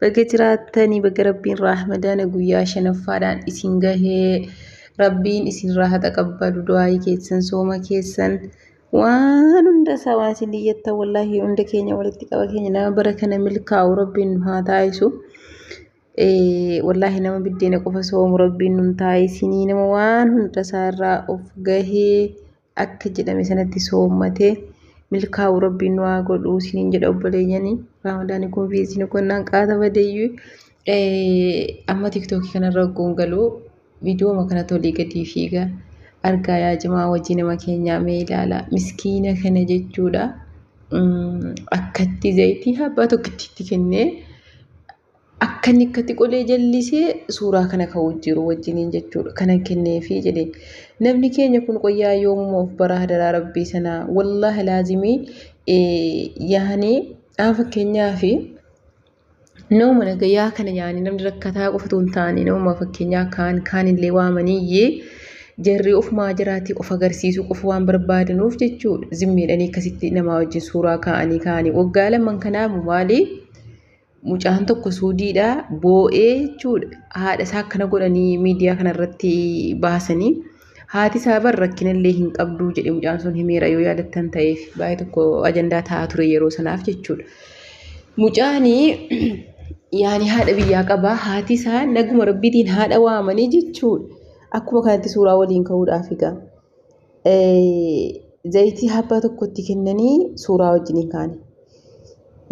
Baga jiraattanii baga rabbiin raahmadaana guyyaa shanaffaadhaan isin gahee rabbiin isinirraa haa taqabbalu du'aayii keessan sooma keessan waan hunda isaa waan isin dhiyyattan wallaahi hunda keenya walitti qaba keenya nama bara kana milkaa'u rabbiin nu haa taasisu. Wallaahi nama biddeena qofa soomu rabbiin nun taasisinii nama waan hunda isaa irraa of gahee akka jedhame sanatti soommatee milkaa'u rabbiin nu haa godhu isiniin jedha obboleeyyanii raamadaanii kun fi isin konnaan qaata badeeyyuu amma tiktookii kanarra ogguun galuu viidiyooma kana tolii gadii fiiga argaa yaa jimaa wajjii nama keenyaa mee ilaala miskiina kana jechuudha akkatti zayitii abbaa tokkittiitti kennee Akka inni akkatti qolee jallisee suuraa kana ka'uu jiru wajjiniin jechuudha. Kanan kenneefii jedhe. Namni keenya kun qoyyaa yoomuma of baraa hadaraa rabbii sanaa. Wallaahi laazimii yaani aan fakkeenyaa fi nama nagayaa kana yaani namni rakkataa qofatu hin taane nama fakkeenyaa kaan kaan illee waamaniyyee jarri ofumaa jiraati of agarsiisuu qofa waan barbaadanuuf jechuudha. Zimmiidhanii akkasitti namaa wajjin suuraa kaa'anii kaa'anii waggaa lamaan kanaamu maalii? Mucaan tokko suudiidha boo'ee jechuudha haadha isaa akkana godhanii miidiyaa kana irratti baasanii haati isaa bar rakkina illee hin qabduu jedhe mucaan sun himeera yoo yaadattan ta'eef baay'ee tokko ajandaa ta'aa ture yeroo sanaaf jechuudha. Mucaani yaani haadha biyyaa qabaa haati isaa naguma rabbiitiin haadha waamanii jechuudha akkuma kanatti suuraa waliin ka'uudhaaf egaa. Zayitii habbaa tokkotti kennanii suuraa wajjiniin kaane.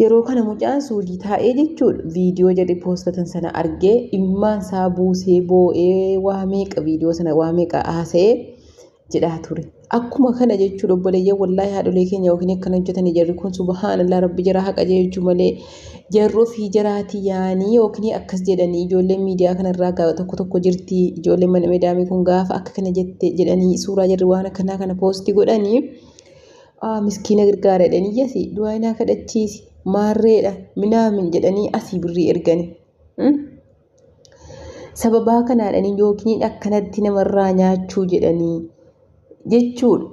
Yeroo kana mucaan suudii taa'ee jechuun viidiyoo jedhe poostatan sana argee imimmaan isaa buusee boo'ee waa meeqa viidiyoo sana waa meeqa haasa'ee jedhaa ture. Akkuma kana jechuun obboleeyyan wallaahi haadholee keenya yookiin akkana hojjetanii jarri kun subhaanallah rabbi jara haqa jeechuu malee Jarri ofii jaraati yaanii yookiin akkas jedhanii ijoolleen miidiyaa kanarraa gaaba tokko tokko jirti ijoolleen mana medaamii kun gaafa akka kana jette jedhanii suuraa jarri waan akkanaa kana poosti godhanii aa miskiina gargaara jedhanii iyyasi du'aa inaa kadhachiisi maarreedha minaamin jedhanii asii birrii ergani. Sababaa kanaadhanii yookiin akkanatti namarraa nyaachuu jedhanii jechuudha.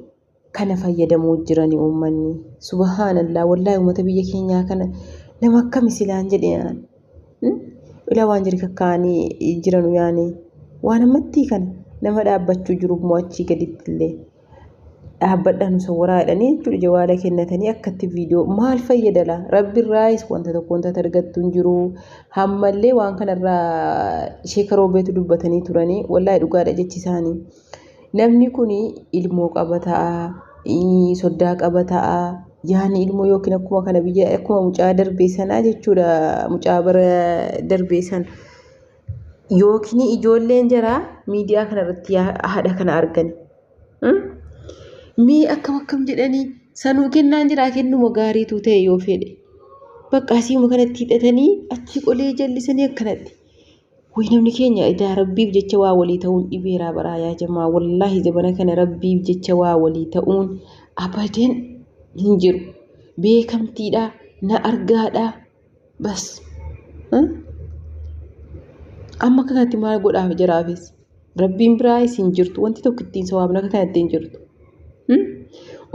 kana fayyadamuu jirani uummanni subhaanallah wallahi uummata biyya keenyaa kana nama akkami silaan jedhe aan ila waan jiri kakkaa'anii jiranu yaani waan ammattii kana nama dhaabbachuu jiru immoo achii gaditti illee dhaabbadha nu sawwaraa jedhanii jechuudha jawaala kennatanii akkatti viidiyoo maal fayyadala rabbi irraayis wanta tokko wanta argattu hin jiru hammallee waan kanarraa sheekaroo beetu dubbatanii turanii wallahi dhugaadha jechi isaanii Namni kun ilmoo qaba ta'a, soddaa qaba ta'a, yaani ilmoo yookiin akkuma kana biyya akkuma mucaa darbee sanaa jechuudha mucaa bara darbee sana. Yookiin ijoolleen jaraa miidiyaa kanarratti haadha kana argan. Mee akkam akkam jedhanii sanuu kennaan jiraa kennuma gaariitu ta'e yoo fedhe. Bakka asiima kanatti hidhatanii achii qolee jallisanii akkanatti. Wayii namni keenya edaa rabbiif jecha waa walii ta'uun dhibeeraa baraa yaa jamaa wallaahi zabana kana rabbiif jecha waa walii ta'uun abadan hin jiru beekamtiidhaa na argaadhaa bas amma kanatti maal godhaaf jaraafis. Rabbiin biraa isin jirtu wanti tokko ittiin sawaabna akka kanatti hin jirtu.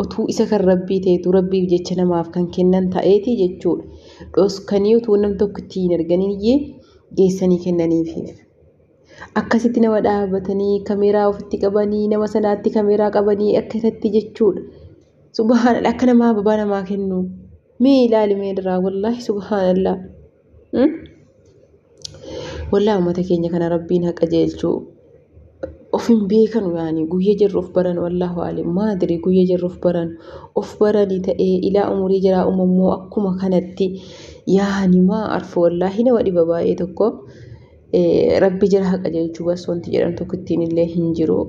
Otuu isa kan rabbii ta'etu rabbiif jecha namaaf kan kennan ta'eeti jechuudha. Dhoskanii otuu nam tokko ittiin hin arganii iyyee geessanii kennaniifiif. Akkasitti nama dhaabatanii kameeraa ofitti qabanii nama sanaatti kameeraa qabanii akka isatti jechuudha. Subhaanallah akka namaa babaa namaa kennu. Mee ilaali mee irraa wallaahi subhaanallah. Wallah ummata keenya kana rabbiin ha qajeelchu of hin beekanu yaani guyya jarri of baran wallahu aalim maadri guyya jarri of baran of barani ta'ee ilaa umurii jaraa umammoo akkuma kanatti yaani maa arfa wallahi nama dhiba baay'ee tokko rabbi jara ha qajeelchu bas wanti jedhan tokkittiin illee hin jiru.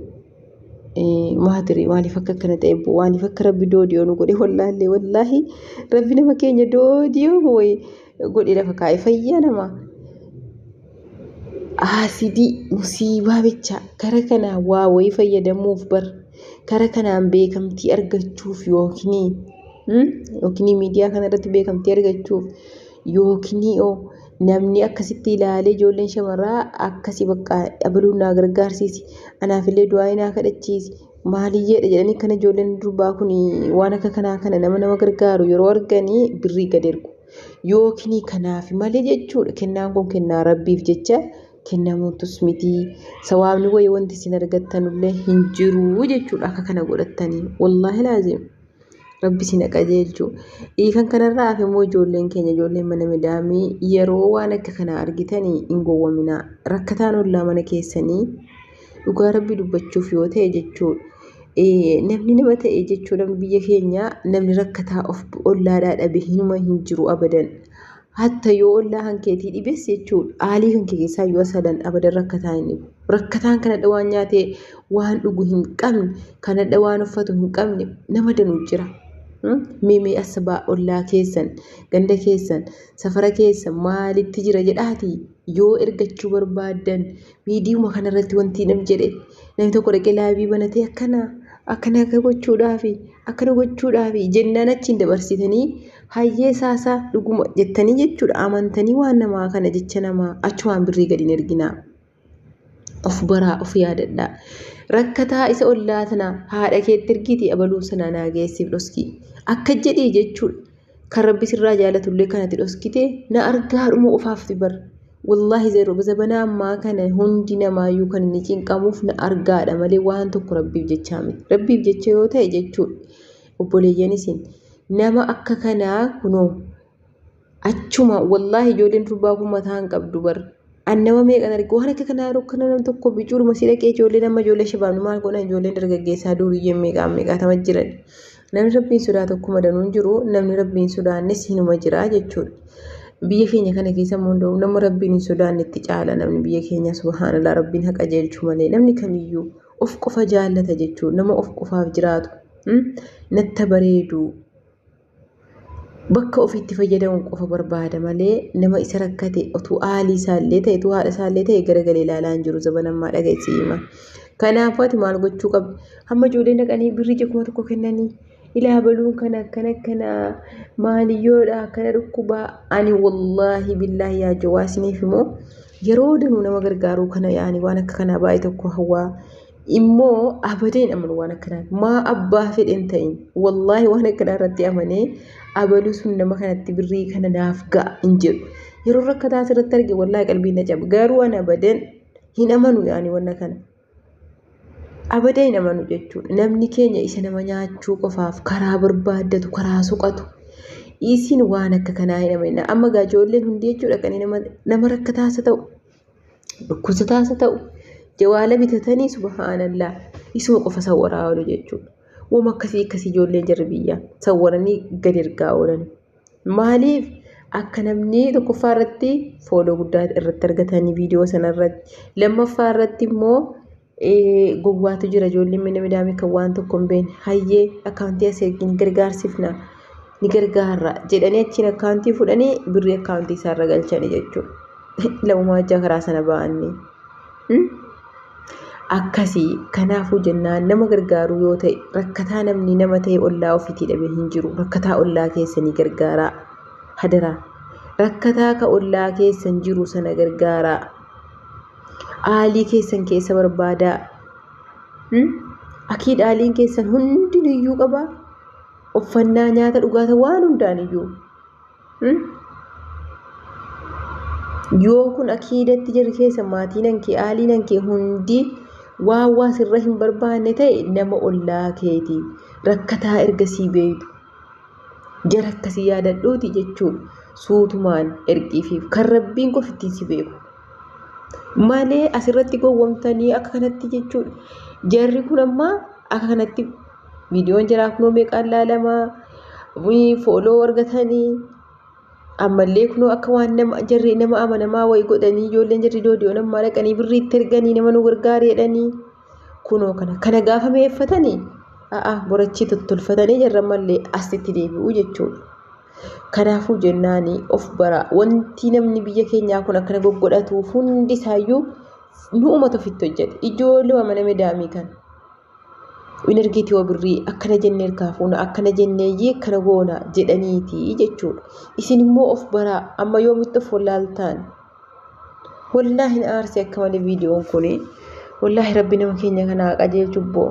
maatiri maaliif akka akkana ta'e maaliif akka rabbi doodiyoo nu godhe wallaahi wallaahi rabbi nama keenya doodiyoo wayi godhe lafa kaa'e fayyaa namaa. Aasidii musiibaa bicha kara kanaa waa wayii fayyadamuuf bar kara kanaan beekamtii argachuuf yookiin yookiin miidiyaa kanarratti beekamtii argachuuf Yookinio namni akkasitti ilaalee ijoolleen shamarraa akkasi bakka abaluun naa gargaarsiisi anaafillee du'aa'ii naa kadhachiisi maaliyyeedha jedhanii kan ijoolleen durbaa kun waan akka kanaa kana nama nama gargaaru yeroo arganii birrii gad ergu. Yookinii kanaaf malee jechuudha kennaan kun kennaa rabbiif jecha kennamuutus miti sawaabni wayii wanti isin argattanullee hin jiru jechuudha akka kana godhattanii wallaahi laaziim. Rabbi si na qajeelchu. Kan kanarraa hafe immoo ijoolleen keenya ijoolleen mana midaamii yeroo waan akka kanaa argitanii hin gowwaminaa. Rakkataan ollaa mana keessanii dhugaa rabbi dubbachuuf yoo ta'e jechuudha. Namni nama ta'e jechuudha biyya keenya namni rakkataa of ollaadhaa dhabe hinuma hin jiru abadan. Hatta yoo ollaa kan keetii dhibes jechuudha. Aalii kan kee keessaa yoo sadan abadan rakkataa hin dhibu. Rakkataan kanadha waan nyaatee waan dhugu hin qabne, kanadha waan uffatu hin qabne nama danuu jira. Mee mee asbaa ollaa keessan, ganda keessan, safara keessan maalitti jira jedhaatii? yoo ergachuu barbaaddan viidiyuma kanarratti wanti nam jedhe namni tokko dhaqee laayivii banatee akkana akkana akka gochuudhaafi akkana gochuudhaafi jennaan achiin dabarsitanii hayyee saasaa dhuguma jettanii jechuudha amantanii waan namaa kana jecha namaa achumaan birrii gadi hin erginaa. Of baraa of yaadadhaa. Rakkataa isa ollaa tana haadha keetti ergiiti abaluu sana naa geessiif dhoskii akka jedhii jechuudha. kan rabbi sirraa jaalatullee kan ati dhoskite na argaa dhuma qofaafti bar wallaahi zero zabanaa ammaa kana hundi namaayyuu kan inni cinqamuuf na argaadha malee waan tokko rabbiif jechaa miti rabbiif jecha yoo ta'e jechuu obboleeyyan isin nama akka kanaa kunoo achuma wallaahi ijoolleen durbaa kun mataa hin qabdu bar An nama meeqan arge waan akka kanaa yeroo kana nam tokko bicuudhuma si dhaqee ijoollee nama ijoollee shabaabni maal godhan ijoolleen dargaggeessaa duuriyyeen meeqaan meeqaatama jiran. Namni rabbiin sodaatu akkuma danuun jiru namni rabbiin sodaannes hinuma jira jechuudha. Biyya keenya kana keessa immoo nama rabbiin hin sodaannetti caala namni biyya keenya subhaanallah rabbiin haqa jeelchu malee namni kamiyyuu of qofa jaallata jechuudha nama of qofaaf jiraatu. Natta bareedu bakka ofiitti fayyadamu qofa barbaada malee nama isa rakkate otuu aalii isaallee ta'e otuu haadha isaallee ta'e garagalee ilaalaa hin jiru zaban ammaa dhageessi hima. Kanaafuu ati maal gochuu qabda? Hamma ijoolleen dhaqanii birrii ija kuma tokko kennanii ilaa baluun kana akkana akkana maaliyyoodha akkana dhukkubaa ani wallaahi billaahi yaa jawaa isiniif immoo yeroo danuu nama gargaaruu kana yaani waan akka kanaa baay'ee tokko hawaa immoo abadee hin amanu waan akkanaa maa abbaa fedhe hin ta'in wallaahi waan akkanaa irratti amanee abaluu sun nama kanatti birrii kana naaf ga'a hin jedhu yeroo rakkataa asirratti arge wallaahi qalbii na cabe garuu ani abadeen hin amanu yaani wanna kana abadee hin amanu jechuudha namni keenya isa nama nyaachuu qofaaf karaa barbaaddatu karaa soqatu isiin waan akka kanaa hin amanina amma gaa ijoolleen hundi jechuudha kan nama rakkataasa ta'u Dhukkubsataas haa ta'u jawaala bitatanii subhaanallah isuma qofa sawwaraa oolu jechuudha. Wama akkasii akkasii ijoollee jarri biyyaa sawwaranii gad ergaa oolan. Maaliif akka namni tokkoffaa irratti fooloo guddaa irratti argatanii viidiyoo sana irratti lammaffaa irratti immoo gowwaatu jira ijoolleen mana midaamii kan waan tokko hin beekne hayyee akkaawuntii asii ergi ni gargaarsifna ni gargaarra jedhanii achiin akkaawuntii fudhanii birrii akkaawuntii isaarra galchanii jechuudha. Lamumaa hojjaa karaa sana ba'anii. Akkasii kanaafuu jennaan nama gargaaruu yoo ta'e rakkataa namni nama ta'e ollaa ofiitii dhabee hin jiru rakkataa ollaa keessanii gargaaraa hadaraa rakkataa ka ollaa keessan jiru sana gargaaraa. Aalii keessan keessa barbaadaa. Hmm? Akiid aaliin keessan hundi niyyuu qaba. Uffannaa, nyaata, dhugaata waan hundaan iyyuu. Hmm? Yoo kun akiidatti jirri keessa maatiinan kee aaliinan kee hundi waan waa sirra hin barbaanne ta'e nama ollaa keeti. Rakkataa erga sii beeytu. Jara akkasii yaadadhuuti jechuun suutumaan ergiifiif kan rabbiin qofa ittiin si beeku. malee asirratti gowwomtanii akka kanatti jechuudha. Jarri kun amma akka kanatti viidiyoon jaraa kunoo meeqaan laalamaa fooloo argatanii ammallee kunoo akka waan nama jarri nama amanamaa wayii godhanii ijoolleen jarri doodiyoon ammaa dhaqanii birrii itti erganii nama nu gargaari jedhanii kunoo kana kana gaafa meeffatanii a'a borachii tottolfatanii jarra ammallee asitti deebi'u jechuudha. Kanaafuu jennaan of bara wanti namni biyya keenyaa kun akkana goggodhatu hundi isaayyuu nu uummata ofitti hojjete ijoollee mana medaamii kan energii tiyoo birrii akkana jennee harkaa fuuna akkana jenneeyyii akkana goona jedhaniiti jechuudha. Isin immoo of baraa amma yoomitti of wallaaltaan wallaa hin aarsi akka malee viidiyoon kun wallaahi rabbi nama keenya kanaa qajeelchubboo.